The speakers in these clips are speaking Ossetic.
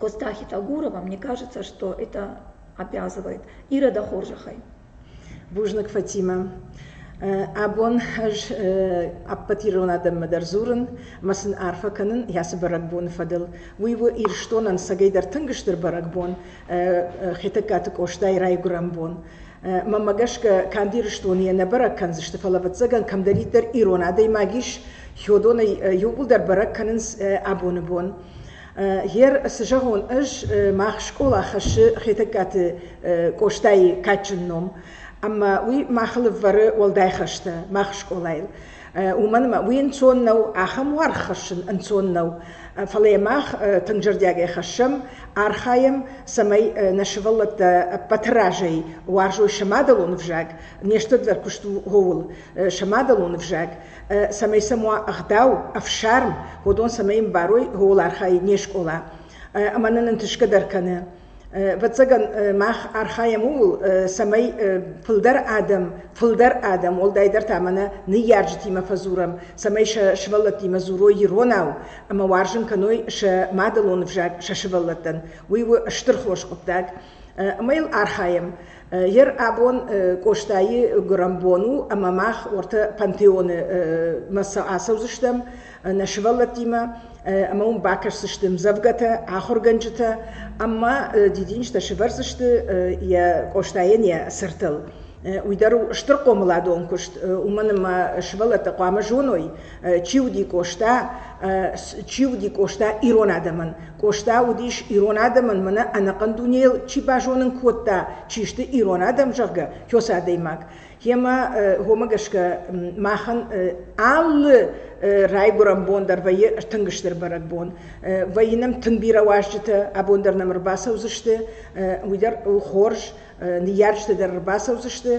Гостахи Тагурова, мне кажется, что это обязывает. Ирода хорзӕхӕй. Бузныг, Фатимӕ. Абон ӕз ӕппӕт ирон адӕммӕ дӕр дзурын ӕмӕ сын арфӕ кӕнын йӕ цы бӕрӕгбоны фӕдыл. Уый у Ирыстонӕн сӕгӕйдӕр тынг стыр бӕрӕгбон, Хетӕгкаты Къостайы райгуырӕн бон. Мӕнмӕ гӕсгӕ, канд Ирыстоны йӕ нӕ бӕрӕг кӕндзысты, фӕлӕ ӕвӕццӕгӕн кӕмдӕриддӕр ирон адӕймаг ис, Хёдонӕй иууылдӕр бӕрӕг кӕнынц абоны бон. Гер, цы зӕгъон, ӕз мах скъола хӕссы Хетӕгкаты Къостайы кадджын ном, ӕмӕ уый махыл ӕвӕры уӕлдай хӕстӕ мах скъолайыл. Уымӕн ӕмӕ уый ӕнцон нӕу, ахӕм уаргъ хӕссын ӕнцон нӕу. Фӕлӕ йӕ мах тынг зӕрдиагӕй хӕссӕм, архайӕм, цӕмӕй нӕ сывӕллӕттӕ ӕппӕты разӕй уарзой сӕ мадӕлон ӕвзаг, не стыр дӕр куыст у ууыл, сӕ мадӕлон ӕвзаг. цӕмӕй сӕм уа ӕгъдау, ӕфсарм, уыдон цӕмӕй йын барой ууыл архайы не скъола. Ӕмӕ нын ӕнтысгӕ дӕр кӕны. Ӕвӕццӕгӕн мах архайӕм ууыл, цӕмӕй фылдӕр адӕм, фылдӕр адӕм, уӕлдайдӕр та мӕнӕ ныййарджытимӕ фӕдзурӕм, цӕмӕй сӕ сывӕллӕттимӕ дзурой иронау ӕмӕ уарзын кӕной сӕ мадӕлон ӕвзаг сӕ сывӕллӕттӕн. Уый у стыр хорз хъуыддаг. Ӕмӕ йыл архайӕм. Ер абон Къостайы гуырӕнбон у ӕмӕ мах ортӕ пантеоны сӕ ацӕудзыстӕм нӕ сывӕллӕттимӕ ӕмӕ уым бакӕсдзысты мдзӕвгӕтӕ, ахуыргӕнджытӕ ӕмӕ дидинджытӕ сывӕрдзысты йӕ Къостайӕн йӕ сыртыл. Уый дӕр у стыр хъомыладон куыст, уымӕн ӕмӕ сывӕллӕттӕ хъуамӕ зоной чи уыди Къоста, чи уыди Къоста ирон адӕмӕн. Къоста уыдис ирон адӕмӕн, мӕнӕ ӕнӕхъӕн дунейыл чи базонын кодта, чи сты ирон адӕм, зӕгъгӕ, кёс адӕймаг. Йемӕ хомӕ гӕсгӕ махӕн алы райгуырӕн бон дӕр вӕййы тынг стыр бӕрӕгбон. Вӕййы нӕм тынг бирӕ уазджытӕ, абон дӕр нӕм ӕрбацӕудзысты, уый дӕр у хорз. ныййарджытӕ дӕр ӕрбацӕудзысты,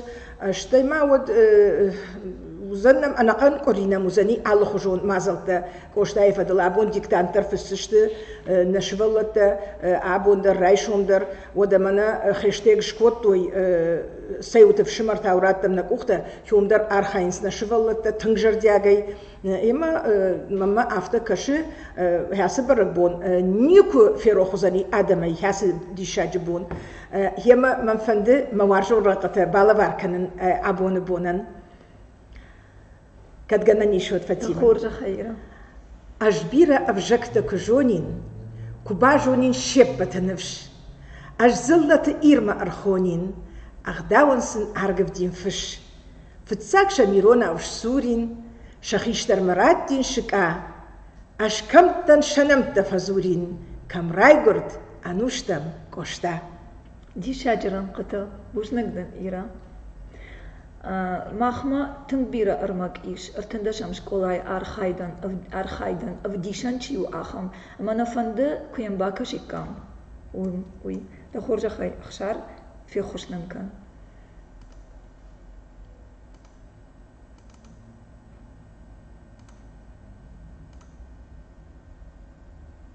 стӕй ма уӕд уыдзӕн нӕм ӕнӕхъӕн къуыри нӕм уыдзӕни алыхуызон мадзӕлттӕ. Къостайы фӕдыл абон диктанттӕ фысдзысты нӕ сывӕллӕттӕ абон дӕр, райсом дӕр. Уӕдӕ мӕнӕ хӕстӕг скодтой цӕуыты фсымӕр тау радтам нӕ къухтӕ, кӕм дӕр архайынц нӕ сывӕллӕттӕ тынг зӕрдиагӕй. Емӕ мӕнмӕ афтӕ кӕсы, ацы бӕрӕгбон никуы ферох уыдзӕни адӕмӕй ацы диссаджы бон. Йемӕ мӕм фӕнды мӕ уарзон рӕнхъытӕ балӕвар кӕнын абоны бонӕн. Кӕд гӕнӕн ис, уӕд фӕцинӕн. Хорзӕхӕй. Ӕз бирӕ ӕвзӕгтӕ куы зонин, куы базонин се ппӕты ныфс. Ӕз дзыллӕты Ирмӕ ӕрхонин, ӕгъдауӕн сын аргывдин фыс. Фыццаг сӕм иронау ссурин, сӕ хистӕрмӕ радтин сыкъа. Ӕз кӕмттӕн сӕ нӕмттӕ фӕдзурин, кӕм райгуырд, Ӕнустӕм, Къоста. Диссаджы рӕнхъытӕ бузныг дӕн, Ира. Махмӕ тынг бирӕ ӕрмӕг ис, ӕртындӕсӕм скъолайы архайдӕн, архайдӕн ӕвдисӕн чи у, ахӕм. Ӕмӕ нӕ фӕнды, куы йӕм бакӕсиккам, уый. Дӕ хорзӕхӕй, Ӕхсар, феххуыс нын кӕн.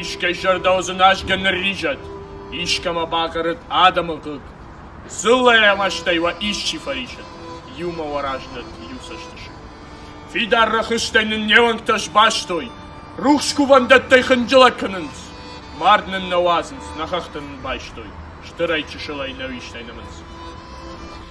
Искӕй сӕрдау дзы назгӕ нырризӕд, искӕмӕ бахъарыд адӕмы хъыг, дзыллӕйӕ мӕстӕй уӕ исчи фӕрисӕд, иумӕ уӕ раздӕт иу цӕстысыг. Фидар рӕхыстӕй нын не уӕнгтӕ сбастой, рухс кувӕндӕттӕй хынджылӕг кӕнынц. Мард нын нӕ уадзынц, нӕ хӕхтӕ нын байстой, стырӕй чысылӕй нӕ уистӕй нымынц.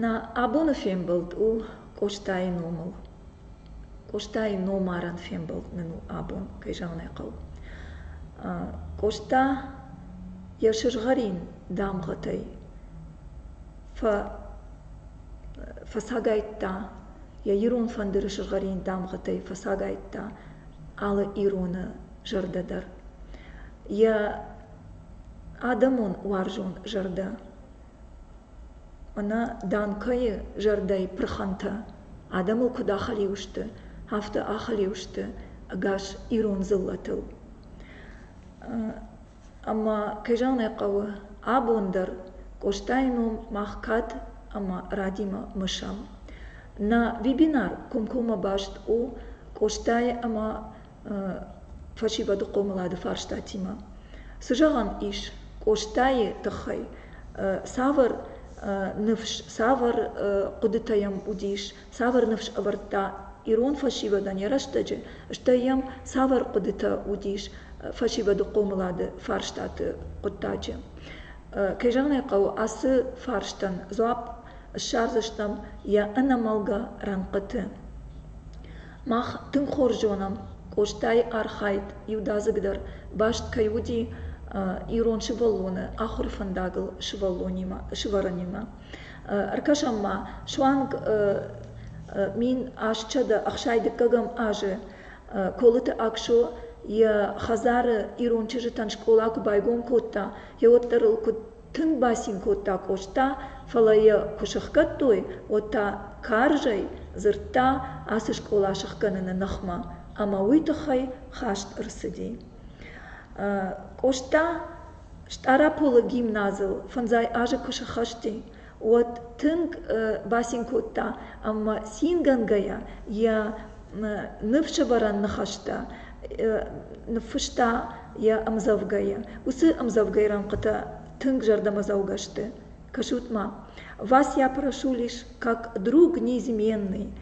нӕ абоны фембӕлд у къостайы номыл къостайы номарӕн фембӕлд нын у абон кӕй зӕгъын ӕй хъӕуы къоста йӕ сызгъӕрин дамгъӕтӕй фӕцагайдта йӕ ирон фӕндыры сызгъӕрин дамгъӕтӕй фӕцагайдта алы ироны зӕрдӕ дӕр йӕ адӕмон уарзон зӕрдӕ мӕнӕ данкӕйы зӕрдӕйы пырхӕнтӕ адӕмыл куыд ахӕлиу сты афтӕ ахӕлиу сты ӕгас ирон дзыллӕтыл ӕмӕ кӕй зӕгъын ӕй хъӕуы абон дӕр къостайы ном мах кад ӕмӕ радимӕ мысӕм нӕ вебинар комкоммӕ баст у къостайы ӕмӕ фӕсивӕды хъомылады фарстатимӕ. Цы зӕгъӕн ис Къостайы тыххӕй? Цавӕр ныфс, цавӕр хъуыдытӕ йӕм уыдис, цавӕр ныфс ӕвӕрдта ирон фӕсивӕдӕн йӕ рӕстӕджы, стӕй йӕм цавӕр хъуыдытӕ уыдис фӕсивӕды хъомылады фарстаты хъуыддаджы. Кӕй зӕгъын ӕй хъӕуы, ацы фарстӕн дзуапп ссардзыстӕм йӕ ӕнӕмӕлгӕ рӕнхъыты. мах тынг хорз зонӕм къостайы архайд иудадзыгдӕр баст кӕй уыди ирон сывӕллоны ахуыры фӕндагыл сывӕллонимӕ ӕркӕсӕм ма суанг мин ӕстсӕдӕ ӕхсай дыккӕгӕм азы колыты аксо йӕ хӕдзары ирон чызджытӕн скъола куы байгом кодта йӕ уӕддӕр ыл куыд Тынг бацин кодта Къоста, фӕлӕ йӕ куы сыхгӕдтой, уӕд та карзӕй дзырдта ацы скъола сыхгӕныны ныхмӕ, ӕмӕ уый тыххӕй хаст ӕрцыди. Къоста Стъараполы гимназыл фӕндзай азы куы схӕсти, уӕд тынг бацин кодта ӕмӕ цингӕнгӕйӕ йӕ ныфсӕвӕрӕн ныхӕстӕ ныффыста йӕ ӕмдзӕвгӕйы. Уыцы ӕмдзӕвгӕйы рӕнхъытӕ тынг зӕрдӕмӕдзӕугӕ сты. Кӕсут-ма. Вас я прошу лишь как друг неизменный.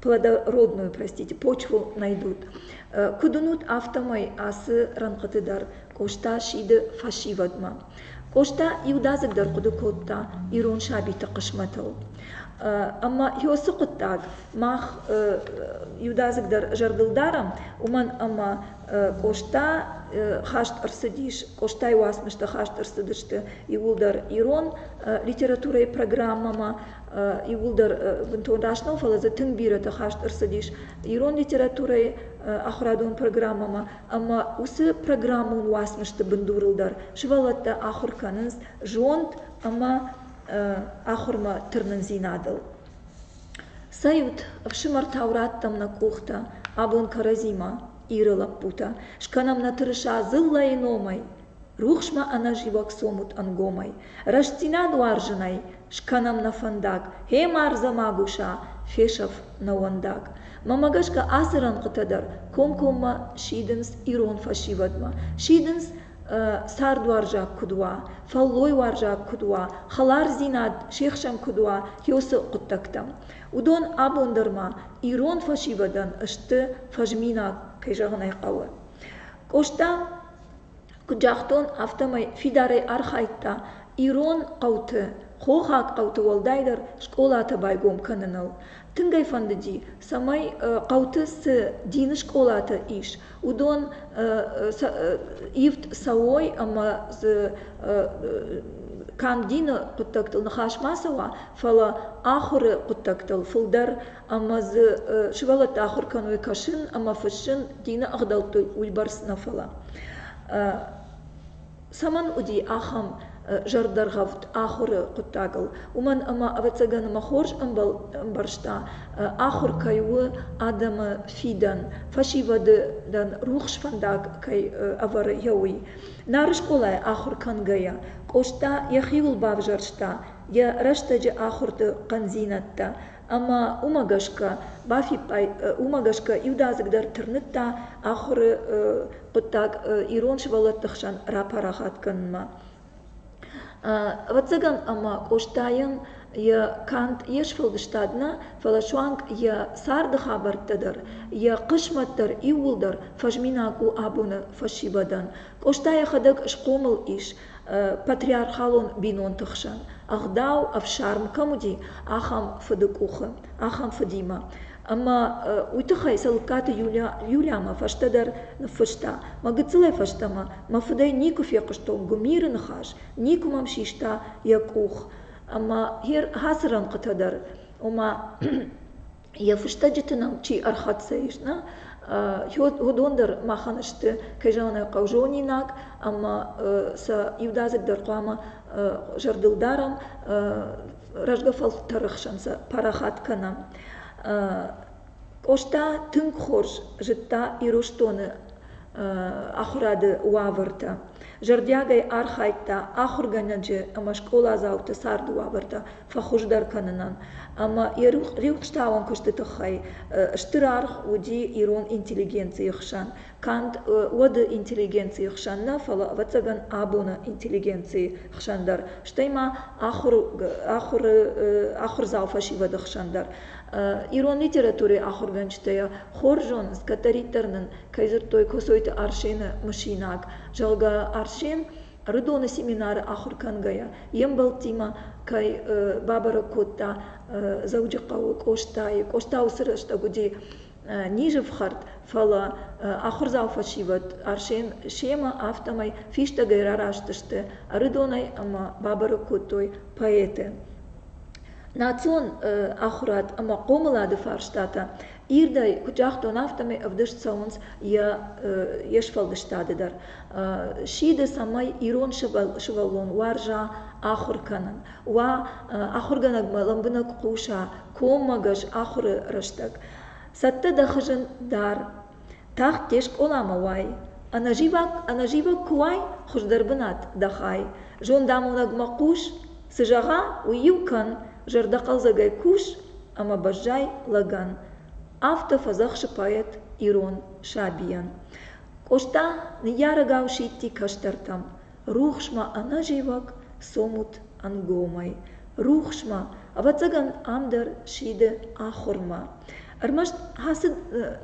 плодородную простите почву найдут куыд уынут афтӕмӕй ацы рӕнхъыты дӕр къоста сиды фӕсивӕдмӕ къоста иудадзыгдӕр хъуыды кодта ирон сабиты хъысмӕтыл ӕмӕ ёсы хъуыддаг мах иудадзыгдӕр зӕрдыл дарӕм уымӕн ӕмӕ къоста хаст ӕрцыдис къостайы уацмыстӕ хаст ӕрцыдысты иууылдӕр ирон литературӕйы программӕмӕ иууылдӕр бынтон раст нӕу, фӕлӕ дзы тынг бирӕтӕ хаст ӕрцыдис ирон литературӕйы ахуырадон программӕмӕ, ӕмӕ уыцы программон уацмысты бындурыл дӕр сывӕллӕттӕ ахуыр кӕнынц зонд ӕмӕ ахуырмӕ тырнындзинадыл. Сӕ иут ӕфсымӕртау радтам нӕ къухтӕ абон кӕрӕдзимӕ, Иры лӕппутӕ, скӕнӕм нӕ тырыса дзыллӕйы номӕй, рухсмӕ ӕнӕзивӕг цомут ӕнгомӕй рӕстдзинад уарзынӕй скӕнӕм нӕ фӕндаг гьемӕ ӕрдзӕмагуса фесӕф нӕуӕндаг мӕмӕ гӕсгӕ ацы рӕнхъытӕ дӕр комкоммӕ сидынц ирон фӕсивӕдмӕ сидынц цардуарзаг куыд уа фӕллойуарзаг куыд уа хӕлардзинад се хсӕн куыд уа хёсы хъуыддӕгтӕм уыдон абон дӕр ма ирон фӕсивӕдӕн сты фӕзминаг кӕй зӕгъын ӕй хъӕуы къоста куыд загътон афтӕмӕй фидарӕй архайдта ирон хъӕуты хохаг хъӕуты уӕлдайдӕр скъолатӕ байгом кӕныныл тынг ӕй фӕндыди цӕмӕй хъӕуты цы дины скъолатӕ ис уыдон ивд цӕуой ӕмӕ дзы канд дины хъуыддӕгтыл ныхас ма цӕуа фӕлӕ ахуыры хъуыддӕгтыл фылдӕр ӕмӕ дзы сывӕллӕттӕ ахуыр кӕной кӕсын ӕмӕ фыссын, дины ӕгъдӕутты уыйбӕрц нӕ, фӕлӕ цӕмӕн уыди ахӕм зӕрдӕргъӕвд ахуыры хъуыддагыл, уымӕн ӕмӕ, ӕвӕццӕгӕн, ӕмӕ хорз ӕмбӕрста, ахуыр кӕй у адӕмы фидӕн, фӕсивӕды рухс фӕндаг кӕй ӕвӕры йӕ уый. Нары скъолайы ахуыр кӕнгӕйӕ, Къоста йӕхиуыл бавзӕрста йӕ рӕстӕджы ахуырты хъӕндзинӕдтӕ ӕмӕ уымӕ гӕсгӕ бафиппайд уымӕ гӕсгӕ иудадзыг дӕр тырныдта ахуыры хъуыддаг ирон сывӕллӕтты хсӕн рапарахат кӕнынмӕ. Ӕвӕццӕгӕн ӕмӕ Къостайӕн йӕ канд йе сфӕлдыстад нӕ, фӕлӕ суанг йӕ царды хабӕрттӕ дӕр, йӕ хъысмӕт дӕр иууылдӕр фӕзминаг у абоны фӕсивӕдӕн. Къоста йӕхӕдӕг схъомыл ис, патриархалон бинонты хсӕн ӕгъдау ӕфсарм кӕм уыди, ахӕм фыды къухы, ахӕм фыдимӕ. Ӕмӕ уый тыххӕй Цӕлыккаты Юлиамӕ фӕстӕдӕр ныффыста, Мӕ гыццылӕй фӕстӕмӕ мӕ фыдӕй никуы фехъуыстон гуымиры ныхас, никуы мӕм систа йӕ къух. Ӕмӕ ацы рӕнхъытӕ дӕр, ома йӕ фыстӕджыты нӕм чи ӕрхӕццӕ ис нӕ уыдон дӕр махӕн сты кӕй зӕгъын хъӕуы зонинаг ӕмӕ сӕ иудадзыгдӕр хъуамӕ зӕрдыл дарӕм рӕзгӕ фӕлтӕры хсӕн сӕ парахат кӕнӕм къоста тынг хорз зыдта ирыстоны ахуырады уавӕртӕ зӕрдиагӕй архайдта ахуыргӕнӕджы ӕмӕ скъоладзауты царды уавӕртӕ фӕхуыздӕр кӕнынӕн. Ӕмӕ йӕ рухстауӕн куысты тыххӕй стыр аргъ уыди ирон интеллигенцийы хсӕн, канд уӕды интеллигенцийы хсӕн нӕ, фӕлӕ, ӕвӕццӕгӕн, абоны интеллигенцийы хсӕн дӕр, стӕй ма ахуыры ахуырдзау фӕсивӕды хсӕн дӕр. Ирон литературӕйы ахуыргӕнджытӕ йӕ хорз зонынц, кӕддӕриддӕр нын кӕй дзырдтой Коцойты Арсены мысинаг, зӕгъгӕ, Арсен Рыдоны семинары ахуыр кӕнгӕйӕ йе мбӕлттимӕ кӕй бабӕрӕг кодта Дзӕуджыхъӕуы Къостайы. Къоста уыцы рӕстӕг уыди низы фхӕрд, фӕлӕ ахуырдзау фӕсивӕд Арсен семӕ афтӕмӕй фистӕгӕй рараст Рыдонӕй ӕмӕ бабӕрӕг кодтой поэты. Национ ахуырад ӕмӕ хъомылады фарстатӕ ирдӕй куыд загътон, афтӕмӕй ӕвдыст цӕуынц йе сфӕлдыстады дӕр. Сиды, цӕмӕй ирон сывӕллон уарза ахуыр кӕнын, уа ахуыргӕнӕгмӕ лӕмбынӕг хъуса, коммӕгӕс ахуыры рӕстӕг. Цӕттӕ дӕ хызын дӕр. тагъд де скъоламӕ уай ӕнӕзивӕг куы уай хуыздӕр бынат дӕ хай зондамонӕгмӕ хъус цы зӕгъа уый-иу кӕн зӕрдӕхъӕлдзӕгӕй кус ӕмӕ бӕззай лӕгӕн афтӕ фӕдзӕхсы поэт ирон сабийӕн къоста ныййарӕгау сидти кӕстӕртӕм рухсмӕ ӕнӕзивӕг цомут ӕнгомӕй рухсмӕ ӕвӕццӕгӕн ам дӕр сиды ахуырмӕ ӕрмӕст ацы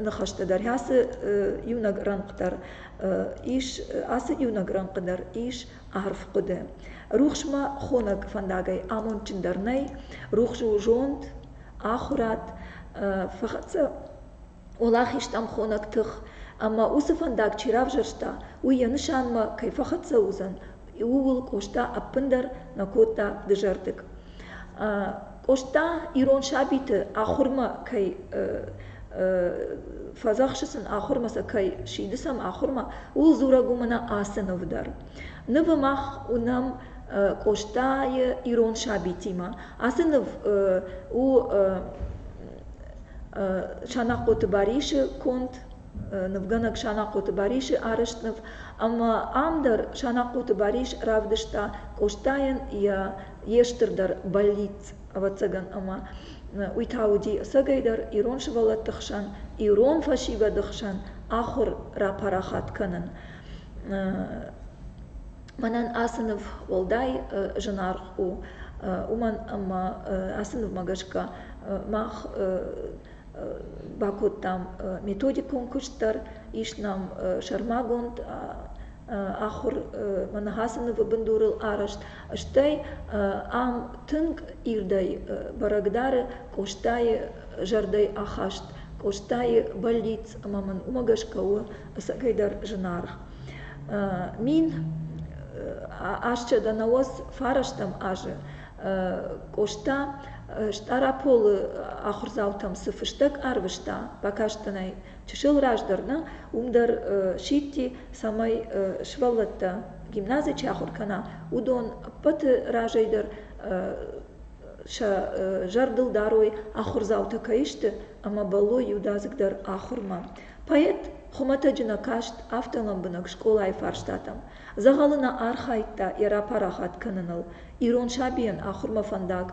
ныхӕстӕ дӕр ацы иунӕг рӕнхъ дӕр ис ацы иунӕг рӕнхъы дӕр ис арф хъуыды рухсмӕ хонӕг фӕндагӕй амондджындӕр нӕй рухс у зонд ахуырад фӕхӕццӕ Олахиз тъӕнхонаг тых, ӕмӕ уыцы фӕндаг чи равзӕрста, уый йӕ нысанмӕ кӕй фӕхӕццӕ уыдзӕн, ууыл Къоста ӕппындӕр нӕ кодта дызӕрдыг. Къоста ирон сабиты ахуырмӕ кӕй фӕдзӕхсы сын, ахуырмӕ сӕ кӕй сиды сӕм ахуырмӕ, ууыл дзурӕг у мӕнӕ ацы ныв дӕр. Нывы мах уынӕм Къостайы ирон сабитимӕ. Ацы ныв у Санахъоты Барисы конд нывгӕнӕг Санахъоты Барисы арӕзт ныв, ӕмӕ ам дӕр Санахъоты Барис равдыста Къостайӕн йӕ йе стырдӕр бӕллиц, ӕвӕццӕгӕн, ӕмӕ уый та уыди ӕцӕгӕйдӕр ирон сывӕллӕтты хсӕн, ирон фӕсивӕды хсӕн ахуыр рапарахат кӕнын. мӕнӕн ацы ныв уӕлдай зынаргъ у уымӕн ӕмӕ ацы нывмӕ гӕсгӕ мах бакодтам методикон куыст дӕр ис нӕм сӕрмагонд ахуырмӕ ныхасы нывы бындурыл арӕзт стӕй ам тынг ирдӕй бӕрӕг дары къостайы зӕрдӕйы ахаст къостайы бӕллиц ӕмӕ мын уымӕ гӕсгӕ у ӕцӕгӕйдӕр зынаргъ Мин асчъада науӕд фарастӕм азы Къоста Стъараполы ахуырдзаутӕм цы фыстӕг арвыста бакастӕнӕй чысыл раздӕр нӕ, уым дӕр сидти, цӕмӕй сывӕллӕттӕ гимназийы чи ахуыр кӕна, уыдон ӕппӕты разӕй дӕр сӕ зӕрдыл дарой, ахуырдзаутӕ кӕй сты ӕмӕ бӕллой иудадзыгдӕр ахуырмӕ. Поэт хуымӕтӕджы нӕ каст афтӕ лӕмбынӕг скъолайы фарстатӕм, дзӕгъӕлы нӕ архайдта йӕ рапарахат кӕныныл, ирон сабийӕн ахуырмӕ фӕндаг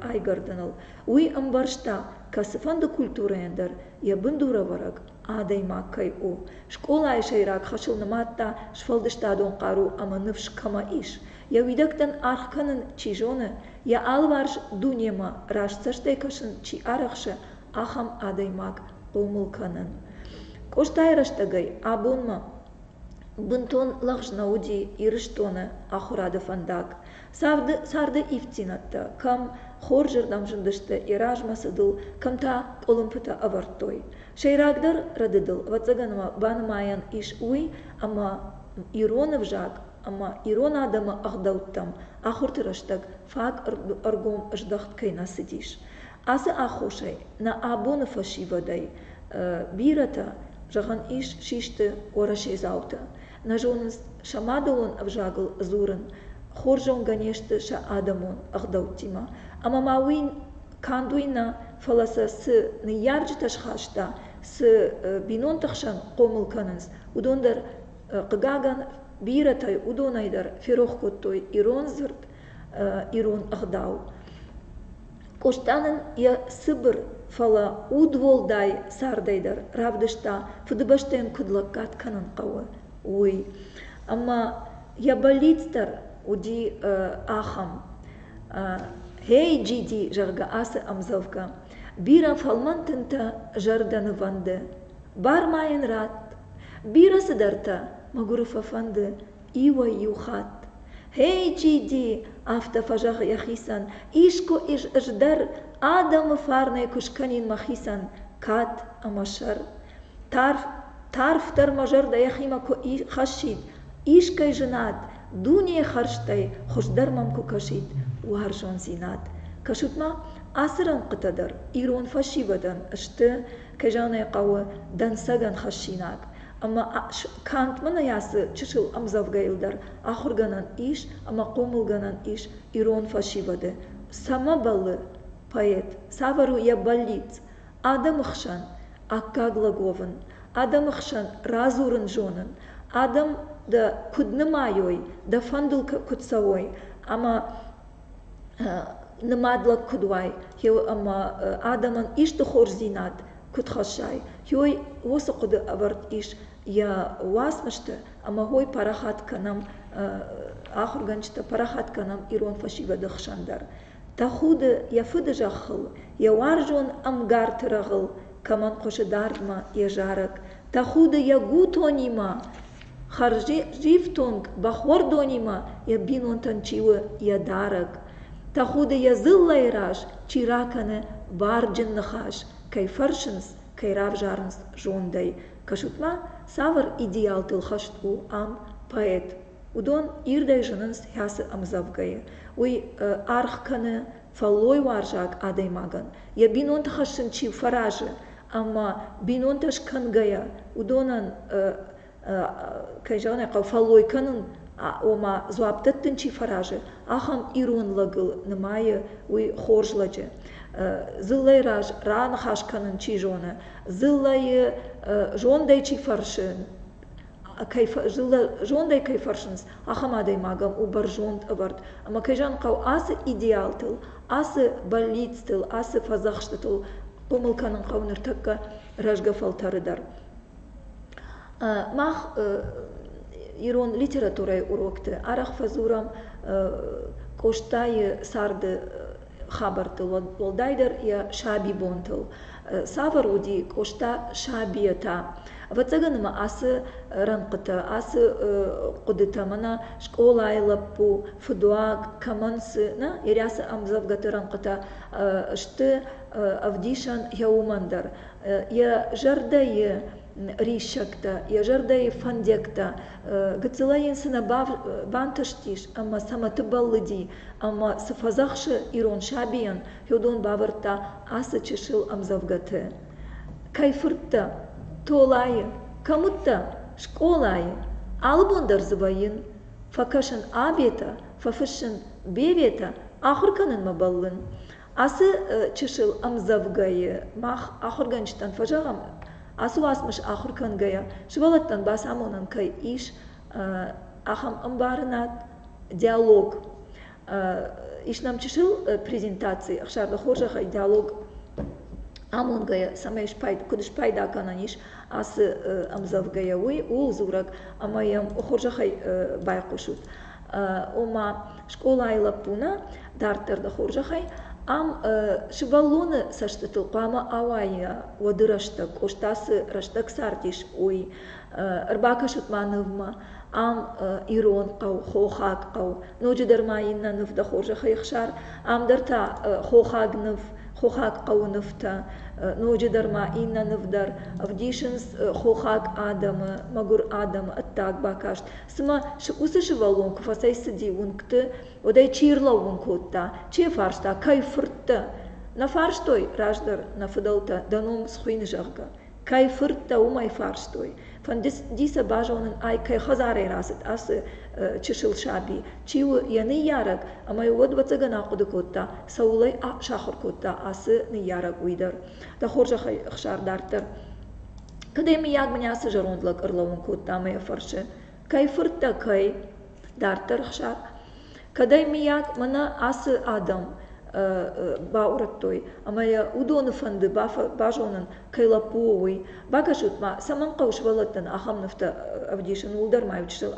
айгӕрдыныл, уый ӕмбӕрста, кӕцыфӕнды культурӕйӕн дӕр йӕ бындурӕвӕрӕг адӕймаг кӕй у. Скъолайы сӕйраг хӕсыл нымадта сфӕлдыстадон хъару ӕмӕ ныфс кӕмӕ ис, йӕ уидӕгтӕн аргъ кӕнын чи зоны, йӕ алыварс дунемӕ раст цӕстӕй кӕсын чи арӕхсы, ахӕм адӕймаг хъомыл кӕнын. Къостайы рӕстӕгӕй абонмӕ бынтон лӕгъз нӕ уыди Ирыстоны ахуырады фӕндаг. Царды ивддзинӕдтӕ кӕм хорзырдӕм зындысты Еразмӕсыдыл, кӕм та къуылымпытӕ ӕвӕрдтой. Сӕйрагдӕр рӕдыдыл, ӕвӕццӕгӕн, уӕ банымайӕн ис уый, ӕмӕ ирон ӕвзаг ӕмӕ ирон адӕмы ӕгъдӕуттӕм ахуырты рӕстӕг фаг ӕргом здӕхт кӕй нӕ цыдис. Ацы аххосӕй нӕ абоны фӕсивӕдӕй бирӕтӕ, зӕгъӕн ис, систы уӕрӕседзауты. Нӕ зонынц сӕмӕдолон ӕвзагыл дзурын, хорз зонгӕ не сты сӕ адӕмон ӕгъдӕуттимӕ. Ӕмӕ ма уый канд уый нӕ, фӕлӕ сӕ цы ныййарджытӕ схаста, цы бинонты хсӕн хъомыл кӕнынц, уыдон дӕр, хъыгагӕн, бирӕтӕй уыдонӕй дӕр ферох кодтой ирон дзырд ирон ӕгъдау. Къоста нын йӕ цыбыр, фӕлӕ удуӕлдай цардӕй дӕр равдыста, Фыдыбӕстӕйӕн куыд лӕггад кӕнын хъӕуы, уый. Ӕмӕ йӕ бӕллиц дӕр уыди ахӕм, Гьей, джиди, зӕгъгӕ, ацы ӕмдзӕвгӕ, бирӕ фӕлмӕн тынтӕ зӕрдӕ нывӕнды, бар ма йын ратт, бирӕ цыдӕртӕ мӕгуыры фӕфӕнды, иуӕй-иу хатт. «Гьей, джиди!» афтӕ фӕзӕгъы йӕхицӕн, искуы ис ӕз дӕр адӕмы фарнӕй куы скӕнин мӕхицӕн кад ӕмӕ сӕр. Тарф, тарфдӕр мӕ зӕрдӕ йӕхимӕ куы хӕссид, искӕй зынад, дунейы хӕрзтӕй хуыздӕр мӕм куы кӕсид уарзондзинад. Кӕсут-ма, ацы рӕнхъытӕ дӕр ирон фӕсивӕдӕн сты кӕй зӕгъын хъӕуы, дӕнцӕгӕн хӕссинаг. Ӕмӕ Кант мын ацы чысыл ӕмдзӕвгӕйыл дӕр ахуыргӕнӕн ис ӕмӕ хъомылгӕнӕн ис ирон фӕсивӕды. Цӕмӕ бӕллы поэт? Цавӕр у йӕ бӕллиц? Адӕмы хсӕн аккаг лӕг уӕвын, адӕмы хсӕн радзурын зонын, адӕм дӕ куыд нымайой, дӕ фӕндыл куыд цӕуой ӕмӕ нымад лӕг куыд уай ӕмӕ адӕмӕн исты хорздзинад куыд хӕссай уый уыцы хъуыды ӕвӕрд ис йӕ уацмысты ӕмӕ уый парахат кӕнӕм ахуыргӕнджытӕ парахат кӕнӕм ирон фӕсивӕды хсӕн дӕр тӕхуды йӕ фыды зӕххыл йӕ уарзон ӕмгарты рӕгъыл кӕмӕн хъуысы дардмӕ йӕ зарӕг тӕхуды йӕ гутонимӕ хӕрзифтонг бӕхуӕрдонимӕ йӕ бинонтӕн чи у йӕ дарӕг тӕхуды йӕ дзыллӕйы раз чи ракӕны барджын ныхас кӕй фӕрсынц кӕй равзарынц зондӕй кӕсут-ма цавӕр идеалтыл хӕст у ам поэт уыдон ирдӕй зынынц хӕцы ӕмдзӕвгӕйы уый аргъ кӕны фӕллойуарзаг адӕймагӕн йӕ бинонты хӕссын чи фӕразы ӕмӕ бинонтӕ скӕнгӕйӕ уыдонӕн кӕй зӕгъын ӕй хъӕуы фӕллой кӕнын ома дзуапп дӕттын чи фӕразы ахӕм ирон лӕгыл нымайы уый хорз лӕджы дзыллӕйы раз раныхас кӕнын чи зоны дзыллӕйы зондӕй чи фӕрсы зондӕй кӕй фӕрсынц, ахӕм адӕймагӕн у бӕрзонд ӕвӕрд ӕмӕ кӕй зӕгъын хъӕуы ацы идеалтыл, ацы бӕллицтыл, ацы фӕдзӕхстытыл хъомыл кӕнын хъӕуы ныртӕккӕ рӕзгӕ фӕлтӕры дӕр. Мах ирон литературӕйы урокты арӕх фӕдзурӕм Къостайы царды хабӕрттыл, уӕлдайдӕр йӕ сабибонтыл. Цавӕр уыди Къоста сабийӕ та? Ӕвӕццӕгӕн ма ацы рӕнхъытӕ, ацы хъуыдытӕ мӕнӕ скъолайы лӕппу, фыдуаг кӕмӕн цы, нӕ Ирӕсы ӕмдзӕвгӕты рӕнхъытӕ сты ӕвдисӕн йӕ уымӕн дӕр. Йӕ зӕрдӕйы риссӕгтӕ, йӕ зӕрдӕйы фӕндиӕгтӕ. Гыццылӕй йын цы нӕ бантыстис ӕмӕ цӕмӕ ты бӕллыди, ӕмӕ цы фӕдзӕхсы ирон сабийӕн, уыдон бавӕрдта ацы чысыл ӕмдзӕвгӕты. Кӕй фырттӕ? Толайы. Кӕм уыдтӕ? Скъолайы. Алы бон дӕр дзы вӕййын. Фӕкӕсын Абетӕ, фӕфыссын Беветӕ, ахуыр кӕнынмӕ бӕллын. Ацы чысыл ӕмдзӕвгӕйы мах ахуыргӕнджытӕн фӕзӕгъӕм, ацы уацмыс ахуыр кӕнгӕйӕ, сывӕллӕттӕн бацамонӕн кӕй ис, ахӕм ӕмбарынад, диалог ис нӕм чысыл презентаци ӕхсӕрды хорзӕхӕй диалог амонгӕйӕ цӕмӕй спайда куыд спайда гӕнӕн ис ацы ӕмдзӕвгӕйӕ уый ууыл дзурӕг ӕмӕ йӕм хорзӕхӕй байхъусут ома скъолайы лӕппуны дарддӕр дӕ хорзӕхӕй ам сывӕллоны цӕстытыл хъуамӕ ауайа уӕды рӕстӕг къостасы рӕстӕг цардис уый Ӕрбакӕсут ма нывмӕ ам ирон хъӕу, хохаг хъӕу. Ноджыдӕр ма иннӕ ныв дӕ хорзӕхӕй ӕхсар. Ам дӕр та хохаг ныв, хохаг хъӕуы нывтӕ. Ноджыдӕр ма иннӕ ныв дӕр ӕвдисынц хохаг адӕмы, мӕгуыр адӕмы ӕддаг бакаст. Цымӕ уыцы сывӕллон куы фӕцӕйцыди уынгты, уӕд ӕй чи ӕрлӕууын кодта, чи фарста, кӕй фырт дӕ? Нӕ фарстой раздӕр нӕ фыдӕлтӕ дӕ ном схуыйны, зӕгъгӕ. кӕй фырттӕ уымӕй фарстой. Фӕнды сӕ базонын ай кӕй хӕдзарӕй рацыд ацы чысыл саби, чи у йӕ ныййарӕг, ӕмӕ уӕд ӕвӕццӕгӕн ахъуыды кодта, цӕуылӕй сахуыр кодта ацы ныййарӕг уый дӕр. Дӕ хорзӕхӕй, Ӕхсар, дарддӕр. Кӕд ӕй мыййаг мын ацы зӕронд лӕг ӕрлӕууын кодта ӕмӕ йӕ фӕрсы, Кӕй фырттӕ, кӕй дарддӕр Хуссар, кӕдӕй, мыййаг, мӕнӕ ацы адӕм баурӕдтой ӕмӕ йӕ уыдоны фӕнды базонын, кӕй лӕппу у, уый. Бакӕсут-ма, цӕмӕн хъӕуы сывӕллӕттӕн ахӕм нывтӕ ӕвдисын, уыл дӕр ма иу чысыл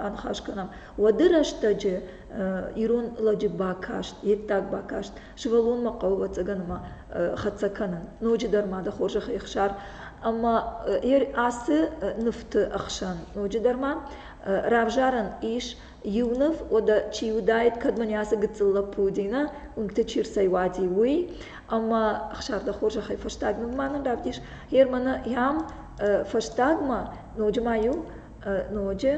аныхас кӕнӕм. Уӕды рӕстӕджы ирон лӕджы бакаст, йе ддаг бакаст сывӕллонмӕ хъӕуы ӕцӕгӕнмӕ хӕццӕ кӕнын. Ноджыдӕр ма дӕ хорзӕх ехсар. Ӕмӕ ацы нывты ӕхсӕн ноджыдӕр ма равзарӕн ис иу ныв, уӕдӕ чи уыдаид, кӕд мын ацы гыццыл лӕппу Динӕ уынгты чи рцӕйуади, уый. Ӕмӕ Ӕхсар, дӕ хорзӕхӕй фӕстаг ныв ма нын равдис. Германы йӕм фӕстагмӕ ноджы ма иу ноджы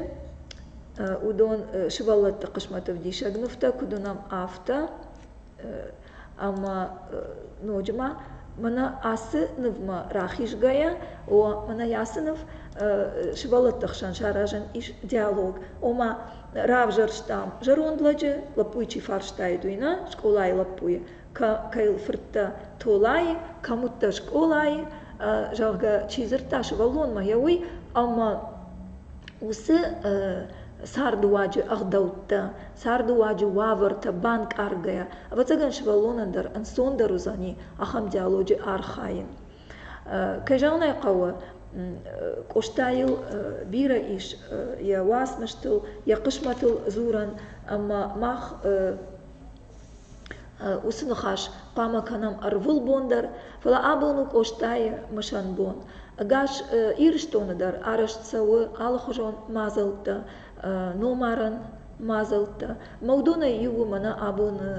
уыдон сывӕллӕтты хъысмӕты ӕвдисӕг нывтӕ, куыд уынӕм, афтӕ. ӕмӕ ноджы ма мӕнӕ ацы нывмӕ рахизгӕйӕ мӕнӕ ацы ныв сывӕллӕтты хсӕн саразӕн ис диалог ома равзӕрстам зӕронд лӕджы лӕппуйы чи фарстайы уый нӕ скъолайы лӕппуйы кӕй il фырттӕ толайы кӕм уыдтӕ скъолайы зӕгъгӕ чи дзырдта сывӕллонмӕ йӕ уый ӕмӕ уыцы цардыуаджы ӕгъдӕуттӕ цардыуаджы уавӕртӕ банкъаргӕйӕ ӕвӕццӕгӕн сывӕллонӕн дӕр ӕнцондӕр уыдзӕни ахӕм диалоджы архайын кӕй зӕгъын ӕй хъӕуы къостайыл бирӕ ис йӕ уацмыстыл йӕ хъысмӕтыл дзурӕн ӕмӕ мах уыцы ныхас хъуамӕ кӕнӕм ӕрвылбон дӕр фӕлӕ абон у къостайы мысӕн бон ӕгас ирыстоны дӕр арӕзт цӕуы алыхуызон мадзӕлттӕ номарӕн мадзӕлттӕ. Ӕмӕ уыдонӕй иу у мӕнӕ абоны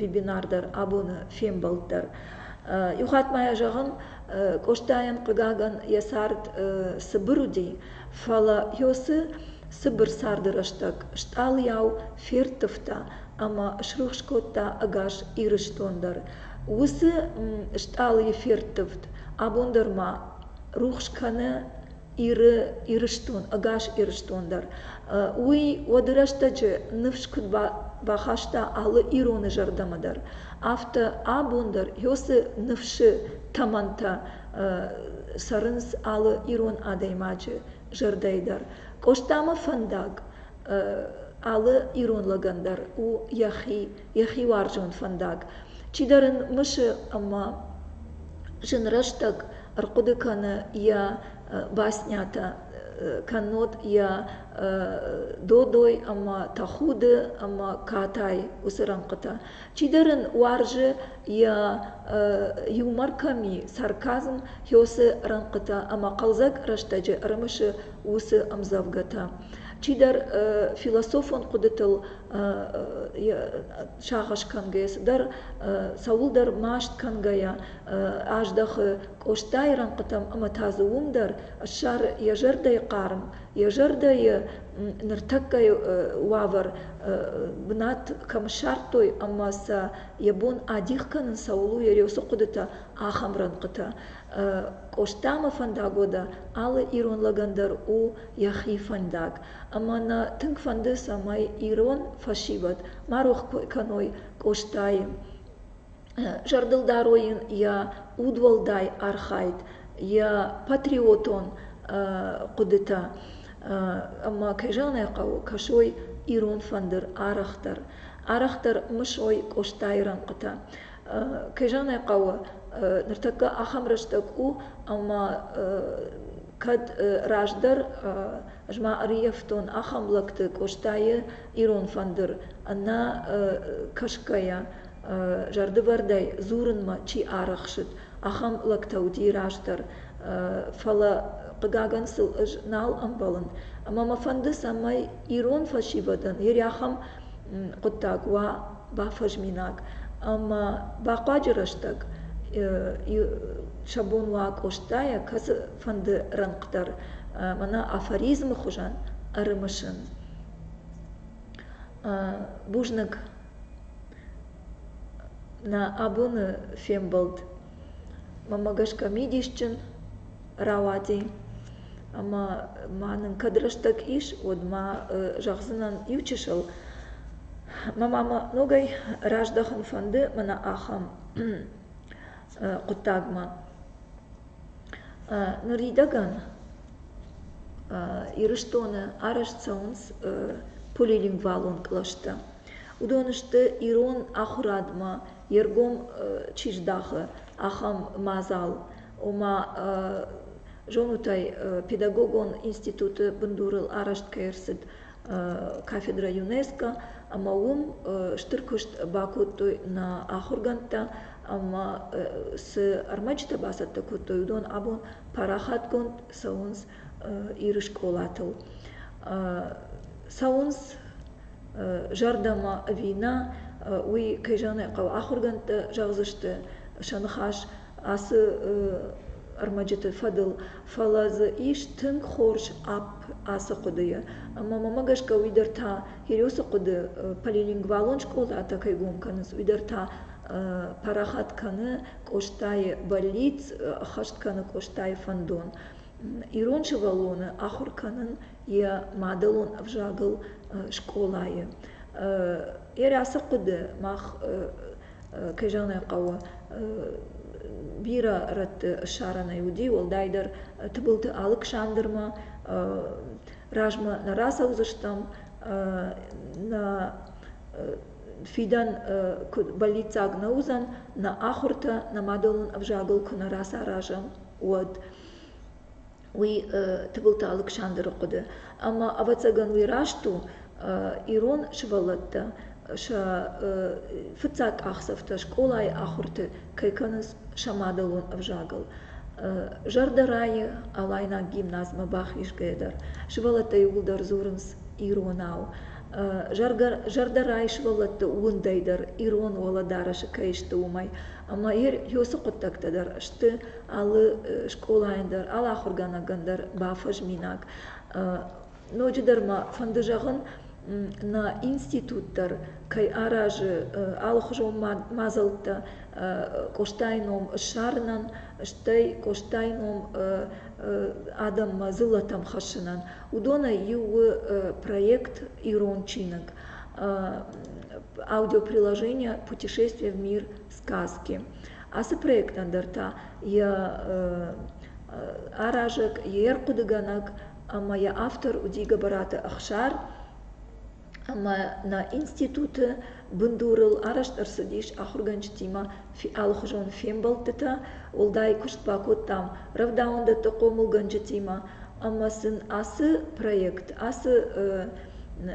вебинар дӕр, абоны фембӕлд дӕр. Иу хатт ма йӕ зӕгъын, Къостайӕн, хъыгагӕн, йӕ цард цыбыр уыди, фӕлӕ Иосы цыбыр царды рӕстӕг стъалыйау ферттывта ӕмӕ срухс кодта ӕгас Ирыстон дӕр. Уыцы стъалыйы ферттывд абон дӕр ма рухс кӕны Иры, Ирыстон, ӕгас Ирыстон дӕр. Уый уӕды рӕстӕджы ныфс куыд бахаста алы ироны зӕрдӕмӕ дӕр, афтӕ абон дӕр Иосы ныфсы тӕмӕнтӕ цӕрынц алы ирон адӕймаджы зӕрдӕйы дӕр. Къостамӕ фӕндаг алы ирон лӕгӕн дӕр у йӕхи йӕхи уарзон фӕндаг. Чидӕр ын мысы ӕмӕ зын рӕстӕг ӕрхъуыды кӕны йӕ баснятӕ, кӕннод йӕ додой ӕмӕ тӕхуды ӕмӕ катай уыцы рӕнхъытӕ. Чидӕр ын уарзы йӕ юмор кӕм и, сарказм хёсы рӕнхъытӕ ӕмӕ хъӕлдзӕг рӕстӕджы ӕрымысы уыцы ӕмдзӕвгӕтӕ. Чидӕр философон хъуыдытыл сагъӕс кӕнгӕйӕ, цыдӕр цӕуылдӕр маст кӕнгӕйӕ аздӕхы Къостайы рӕнхъытӕм ӕмӕ та дзы уым дӕр ссары йӕ зӕрдӕйы хъарм, йӕ зӕрдӕйы ныртӕккӕйы уавӕр, бынат кӕм ссардтой ӕмӕ сӕ йӕ бон адих кӕнын цӕуыл у йӕ рёсы хъуыдытӕ, ахӕм рӕнхъытӕ. Къостамӕ фӕндаг уӕдӕ алы ирон лӕгӕн дӕр у йӕхи фӕндаг. ӕмӕ нӕ тынг фӕнды, цӕмӕй ирон фӕсивӕд ма рох кӕной Къостайы. Зӕрдыл дарой йын йӕ удуӕлдай архайд, йӕ патриотон хъуыдытӕ ӕмӕ, кӕй зӕгъын ӕй хъӕуы, кӕсой ирон фӕндыр арӕхдӕр, арӕхдӕр мысой Къостайы рӕнхъытӕ. Кӕй зӕгъын ӕй хъӕуы, ныртӕккӕ ахӕм рӕстӕг у, ӕмӕ Кӕд раздӕр ӕз ма ӕрйӕфтон ахӕм лӕгты Къостайы ирон фӕндыр, ӕнӕ кӕсгӕйӕ, зӕрдывӕрдӕй дзурынмӕ чи арӕхсыд, ахӕм лӕгтӕ уыди раздӕр. Фӕлӕ, хъыгагӕн, сыл ӕз нал ӕмбӕлын. Ӕмӕ мӕ фӕнды, цӕмӕй ирон фӕсивӕдӕн йе рӕхӕм хъуыддаг уа, бафӕзминаг ӕма бахъуаджы рӕстӕг сӕ бон уа Къостайӕ кӕцыфӕнды рӕнхъ дӕр мӕнӕ афоризмы хуызӕн ӕрымысын. Бузныг нӕ абоны фембӕлд. Мӕмӕ гӕсгӕ мидисджын рауади ӕмӕ ма нын кӕд рӕстӕг ис уӕд ма зӕгъдзынӕн иу чысыл мӕ мамӕ ногӕй раздӕхын фӕнды мӕнӕ ахӕм хъуыддагмӕ ныридӕгӕн ирыстоны арӕзт цӕуынц полилингвалон кълӕстӕ уыдон сты ирон ахуырадмӕ йе ргом чи здахы ахӕм мадзал ома зонут ӕй, педагогон институты бындурыл арӕзт кӕй ӕрцыд кафедрӕ ЮНЕСКО, ӕмӕ уым стыр куыст бакодтой нӕ ахуыргӕндтӕ ӕмӕ цы ӕрмӕджытӕ бацӕттӕ кодтой, уыдон абон парахатгонд цӕуынц Иры скъолатыл. Цӕуынц зӕрдӕмӕ ӕви нӕ, уый, кӕй зӕгъын ӕй хъӕуы, ахуыргӕндтӕ зӕгъдзысты сӕ ныхас ацы ӕрмӕджыты фӕдыл, фӕлӕ дзы ис тынг хорз апп ацы хъуыдыйӕ. Ӕмӕ мӕмӕ гӕсгӕ уый дӕр та, Хириосы хъуыды полилингвалон скъолатӕ кӕй гом кӕнынц, уый дӕр та парахат кӕны Къостайы бӕллиц, ӕххӕст кӕны Къостайы фӕндон. Ирон сывӕллоны ахуыр кӕнын йӕ мадӕлон ӕвзагыл скъолайы. Йӕ ацы хъуыды мах кӕй зӕгъын ӕй хъӕуы, бирӕ рӕтты ссарӕнӕй уыди, уӕлдайдӕр Тыбылты Алыксандрмӕ. Размӕ нӕ рацӕудзыстӕм, нӕ фидӕн куыд бӕллиццаг нӕ уыдзӕн, нӕ ахуыртӕ нӕ мадӕлон ӕвзагыл куы нӕ рацаразӕм, уӕд. уый Тыбылты Алыксандры хъуыды, ӕмӕ, ӕвӕццӕгӕн, уый раст у, ирон сывӕллӕттӕ сӕ фыццаг къахдзӕфтӕ скъолайы ахуырты кӕй кӕнынц сӕ мадӕлон ӕвзагыл. Зӕрдӕ райы, алайнаг гимназмӕ бахизгӕйӕ дӕр сывӕллӕттӕ иууылдӕр дзурынц иронау. Зӕрдӕ райы сывӕллӕтты уындӕй дӕр, ирон уӕлӕдарӕсы кӕй сты, уымӕй. Ӕмӕ йе рцы хъуыддӕгтӕ дӕр сты алы скъолайӕн дӕр, алы ахуыргӕнӕгӕн дӕр бафӕзминаг. Ноджыдӕр ма фӕнды зӕгъын, нӕ институт дӕр кӕй аразы алыхуызон мадзӕлттӕ Къостайы ном ссарынӕн, стӕй Къостайы ном адӕммӕ дзыллӕтӕм хӕссынӕн. Уыдонӕй иу у проект «Ирон чиныг» аудиоприложение «Путешествие в мир сказки». Ацы проектӕн дӕр та йӕ аразӕг, йе рхъуыдыгӕнӕг ӕмӕ йӕ автор у Дигобараты Ӕхсар. Ӕмӕ нӕ институты бындурыл арӕзт ӕрцыдис ахуыргӕнджытимӕ алыхуызон фембӕлдтытӕ. Уӕлдай куыст бакодтам рӕвдауӕндӕтты хъомылгӕнджытимӕ ӕмӕ сын ацы проект, ацы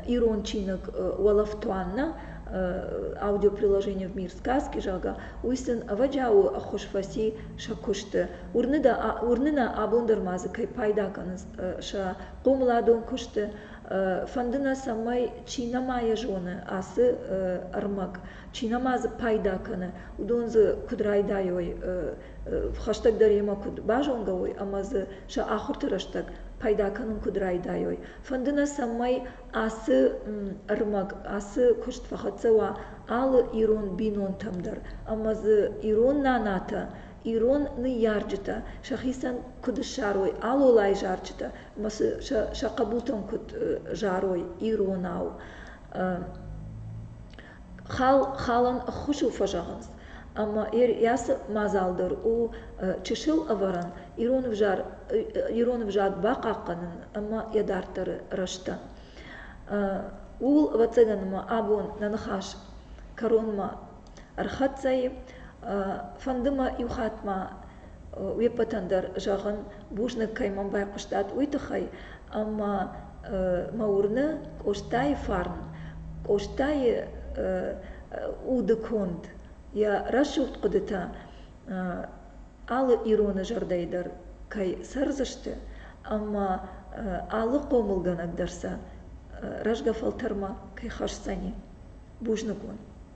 ирон чиныг «Уолӕфтуанна» аудиоприложение в мир сказки, зӕгъгӕ, уый сын ӕвӕджиауы ӕххуыс фӕци сӕ куысты. Уырны, дӕ, уырны нӕ абон дӕр ма дзы кӕй пайда кӕнынц сӕ хъомыладон куысты. Фӕнды нӕ, цӕмӕй чи нӕма йӕ зоны ацы ӕрмӕг, чи нӕма дзы пайда кӕны, уыдон дзы куыд райдайой хӕстӕгдӕр йемӕ куыд базонгӕ уой ӕмӕ дзы сӕ ахуырты рӕстӕг пайда кӕнын куыд райдайой. фӕнды нӕ цӕмӕй ацы куыст фӕхӕццӕ уа алы ирон бинонтӕм дӕр ӕмӕ дзы ирон нанатӕ ирон ныййарджытӕ сӕхицӕн куыд ссарой алолайы зарджытӕ ӕмӕ сӕ хъӕбутӕм куыд зарой иронау хал халӕн ӕххуысыл фӕзӕгъынц ӕмӕ йӕ цы мадзал дӕр у чысыл ӕвӕрӕн ирон ӕвзаг ирон ӕвзаг бахъахъхъӕнын ӕмӕ йӕ дарддӕры рӕзтӕн ууыл ӕвӕццӕгӕн ма абон нӕ ныхас кӕронмӕ ӕрхӕццӕ и фӕнды мӕ иу хатт ма Уе ппӕтӕн дӕр, зӕгъын, бузныг кӕй мӕм байхъуыстат, уый тыххӕй, ӕмӕ мӕ уырны Къостайы фарн, Къостайы уды конд, йӕ рӕсугъд хъуыдытӕ алы ироны зӕрдӕйы дӕр кӕй цӕрдзысты, ӕмӕ алы хъомылгӕнӕг дӕр сӕ рӕзгӕ фӕлтӕрмӕ кӕй хӕсдзӕни. Бузныг уын.